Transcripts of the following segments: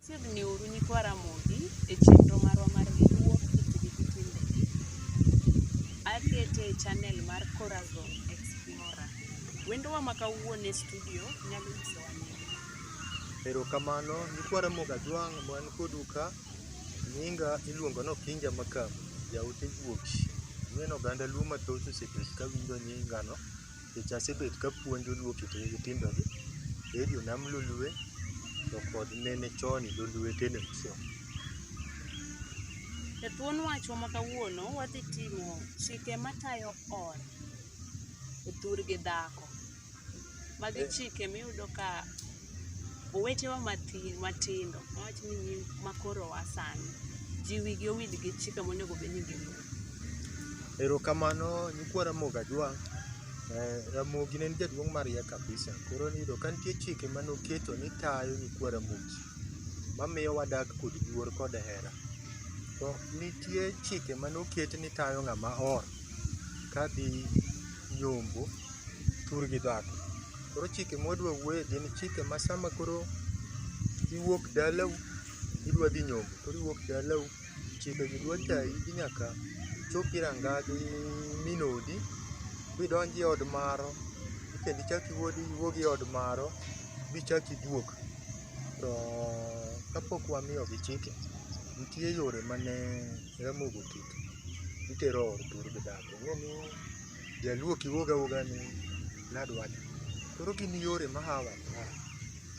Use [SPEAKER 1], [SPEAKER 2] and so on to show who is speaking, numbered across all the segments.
[SPEAKER 1] Chiegni uru nyikwa Ramogi e chenro marwa mar Riwruok Kitgi gi Timbegi. Akete e channel mar Corazon Explorer. Wendowa ma kawuono e studio nyalo nyisowa nying. Erokamano
[SPEAKER 2] nyikwa Ramogi Ajwang' ma wan kodu ka. Nyinga iluongo ni Okinja Makamu, jaote guok. Ang'eyo ni oganda luo mathoth osebet ka winjo nyingano nikech asebet ka apuonjo luo kit timbegi e jo nam lolwe to kod nene chon lolwe television. E thuon wachwa
[SPEAKER 1] ma kawuono wadhi timo chike matayo ot e thur gi dhako. Magi chike miyudo ka owetewa matin matindo awach ni nyi makoro wa sani ji wigi owil gi chike monego bed ni giluwo. Erokamano
[SPEAKER 2] nyikwa Ramogi Ajwang'. Eh, Ramogi ne en jaduong' mariek kabisa. Koro niyudo ka nitie chike mane oketo ni tayo nyikwa Ramogi. Mamiyo wadak kod luor kod hera. To nitie chike mane oket ni tayo ng'ama or kadhi nyombo. tur gi dhako. Koro chike mwadwa wuoye gin chike ma sama koro iwuok dalau idwa dhi nyombo, koro iwuok dalau chike gi dwa tayi ni nyaka ichopi rangagi min odi bidonji od maro kendo ichak iwuod iwuogi od maro bichak iduog. To kapok wamiyogi chike, nitie yore mane Ramogi oketo, itero ot tur gi dhako. Ing'eni Jaluo kiwuog awuoga ni nadwach. Koro gin yore ma hawa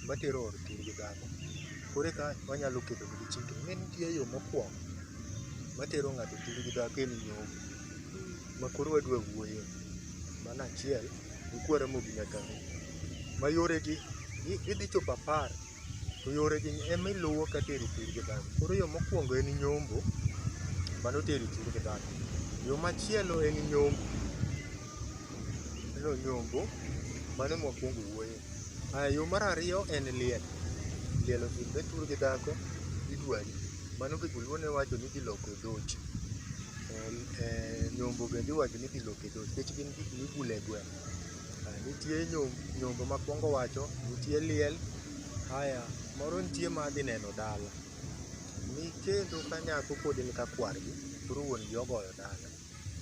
[SPEAKER 2] matero or kir gi dhako. Koro eka wanyalo kedo gi chike. Ne nitie yo mokwongo matero ng'ato kir gi dhako en nyombo. Ma koro wadwa wuoye. Mano achiel, gi kwara mobi nyaka ng'e. Ma yore gi, idhi chopo apar to yoregi ema iluwo ka teri thur gi dhano. Koro yo mokwongo en nyombo, mano teri thur gi dhano. Yo machielo en nyombo, ineno nyombo, mano ema wakwongo wuoye. Aya, yo mar ariyo en liel, liel otimre thur gi dhako, idwari. Mano gi joluo ne wacho ni idhi loko e dhoot. Eh, eh, Nyombo bende iwacho ni idhi loko e dhoot nikech gin gik mibule gweng'. Nitie nyombo makwongo wacho, nitie liel, haya moro nitie ma adhi neno dala. Nikendo ka nyako pod en ka kwargi, koro wuon gi ogoyo dala.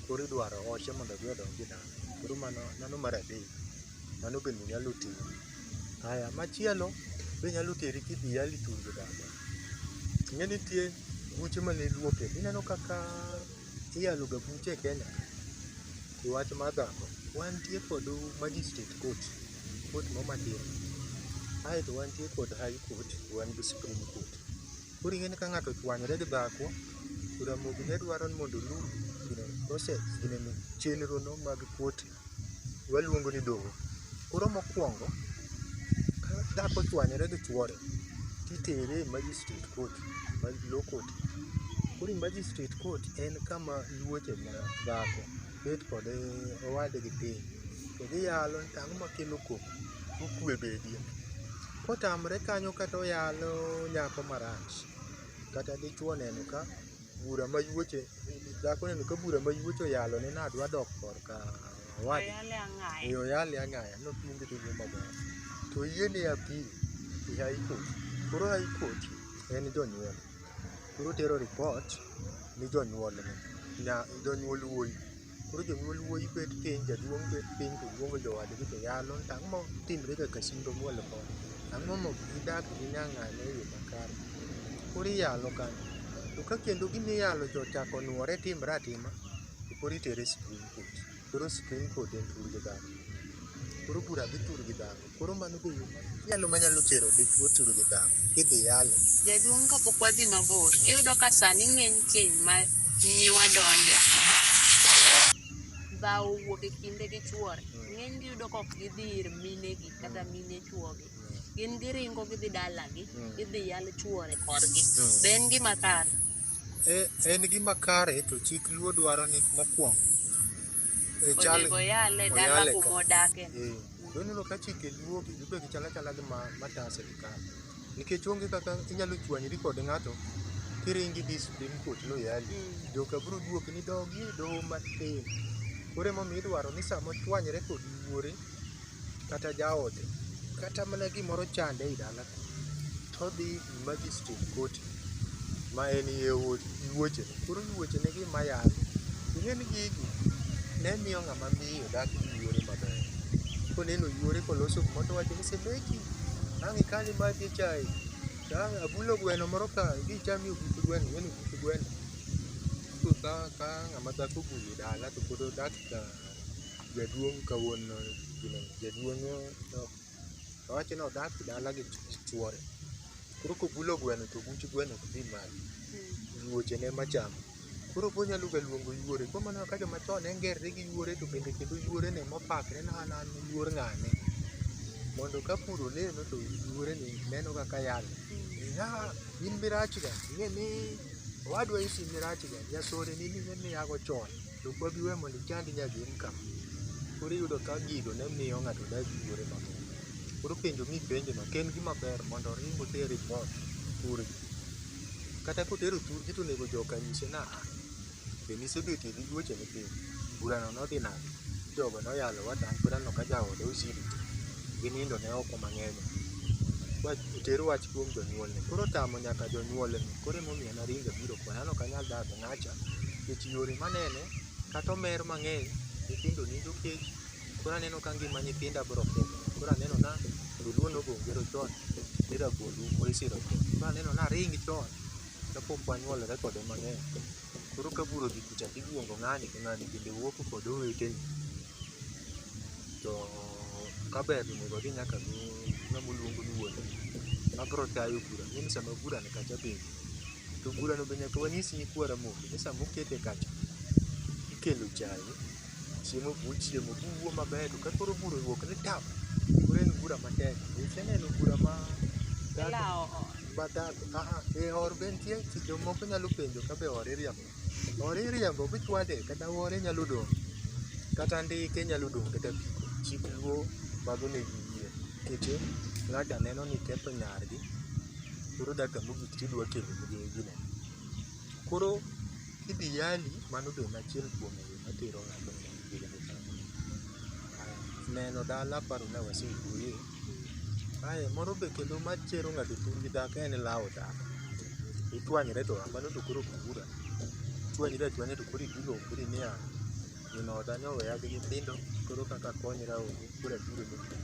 [SPEAKER 2] Koro idwaro oche mondo odhi odonj e dala. Koro mano mano mar adek, mano bende nyalo timo. Haya, machielo be nyalo teri kidhi yali thurgi dala. Ing'e nitie buche mane iluoke, ineno kaka iyaloga buche e Kenya e wach mar dhako, wantie kod magistrate court, court ma Homa Tir, aeto wantie kod high court, wan gi supreme court. Koro ing'eni ka ng'ato ochwanyore gi dhako, to Ramogi ne dwaro ni mondo olu gine, process, ginene, chenrono mag court waluongo ni doho. Koro mokwongo, ka dhako ochwanyore gi chwore, titere e magistrate court, ma law court. Koro e magistrate court en kama iwuothe ma dhako bet kod owadgi piny, to giyalo ni to ang'o makelo koko, to kwe bedie. Kotamre kanyo kata oyalo nyako marach, kata dichwo oneno ka bura mayuoche dhako neno ka bura mayuoche oyalo ne nadwa dok korka wadi e oyale ang'aya nopiende to wuo maber to yie ne apil e high court koro high court en jonyuol koro tero report ni jonyuolne nya jonyuol wuoyi Koro jonyuol wuoyi bet piny, jaduong' bet piny to luongo jowadgi to yalo to ang'o matimre ga Kasumba Mwal koni? Ang'o ma ok gidak gi nyang'ane e yo makare? Koro iyalo kanyo. To ka kendo gima iyalo cha ochako onwore timre atima, to koro itere Supreme Court. Koro Supreme Court en tur gi dhano. Koro bura dhi tur gi dhano. Koro mano be yo machielo manyalo tero dichwo turu gi dhako kidhi yalo. Jaduong' kapok wadhi
[SPEAKER 1] mabor, iyudo ka sani ng'eny keny ma nyiwa donje. Dhawo wuok e kinde gi chwore, ng'eny gi iyudo ka ok gidhi ir minegi kata mine chwogi. Gin giringo gidhi dalagi, gidhi yal chwore korgi. Be en gima kare? E-
[SPEAKER 2] En gima kare to chik luo dwaro ni mokwongo. e
[SPEAKER 1] chal- Onego oyale dala oyale ka- kuma odake. Eh. To ineno ka
[SPEAKER 2] chike luo gi gibe gi chala chala gi ma mata sirikal. Nikech onge kaka inyalo chwanyri kod ng'ato kiringi dhi Supreme Court loyali. Mm. Joka biro duok ni dogi e doho matin. Koro emomiyo idwaro ni sama ochwanyre kod wuore kata jaode kata mana gimoro chande e dala todhi magistrate koti ma en iye wuoche koro wuoche ne gi mayal ing'e ni gigi ne miyo ng'ama miyo dak gi yuore maber koneno yuore koloso gimoro to wacho ni semeki ang' ikali ma dhi chaye to ang' abulo gweno moro ka idhi icham yo but gweno ing'e ni but gweno to ka ka ng'ama dhako obulo dala to pod odak ka jaduong' ka wuon gino jaduong' ok Owacho ni odak dala gi chuore. Koro kobulo gweno to buch gweno ok dhi malo. Yuoche ne ema chamo. Koro be onyalo ga luongo yuore. Koro mano kaka joma chon ne ngerre gi yuore to bende kendo yuore no ema opakre ni an an yuor ng'ane. Mondo ka pur olemo to yuore ni neno kaka yalo. Ah, in mirach ga. Ing'e ni owadwa isi mirach ga. Jasore ni ing'e ni ago chon. To ok wabi weyo mondo ichandi nyaka in ka. Koro iyudo ka gigo ne miyo ng'ato dak gi yuore maber. Koro penjo mipenjo no ok en gima ber mondo oring oter report thurgi. Kata kotero thurgi to onego jo ka nyise ni aa, be nisebetie gi juoche ni piny? Bura no nodhi nade? Jogo noyalo wat an pod aneno ka jaoda Osiri gi nindo ne oko mang'eny. Wach oter wach kuom jonyuolne. Koro otamo nyaka jonyuolne. Koro emomiyo naringo abiro koni. An ok anyal dak. Acha, kech yore manene, kata omer mang'eny, nyithindo nindo kech, koro aneno ka ngima nyithinda biro kethore. Koro aneno na joluo ne ogo ngero chon ni rabuond umbo isiro chon. Koro aneno ni aring chon kapok wanyuolore kode mang'eny. Koro ka bur odhi kucha to iluongo ng'ani to ng'ani bende wuok kod owetene. To kaber to onego odhi nyaka gi ng'ama oluongo ni wuon gi. Mabiro tayo bura, ing'e ni sama bura nikacha bende To burano be nyaka wanyis nyikwa Ramogi ni sama okete kacha, ikelo chae, chiemo be uchiemo, uwuo maber to ka koro bura owuok ni tap, koro en bura matek. Be iseneno bura ma Ila oo. ma dhako? Aha, e or be nitie, jomoko nyalo penjo ka be or iriambo. Ore iriambo bichwade kata ore nyalo dong' kata ndike nyalo dong' kata apiko. Chik luo mago ne giyie. Keche ng'ato aneno ni ketho nyargi koro dakika mogik tidwa kelo ne gine. Koro kidhi yali mano be en achiel kuom yo matero ng'ato neno dala aparo ni wasewuoye. Ae moro be kendo machero ng'ato chuny gi dhako en lawo dhako. Ichwanyre to a mano to koro ok bura. Ichwanyri achwanya to koro ibiro ombri niya, min oda ne oweya gi nyithindo koro kaka akonyra onge koro abiro ne in.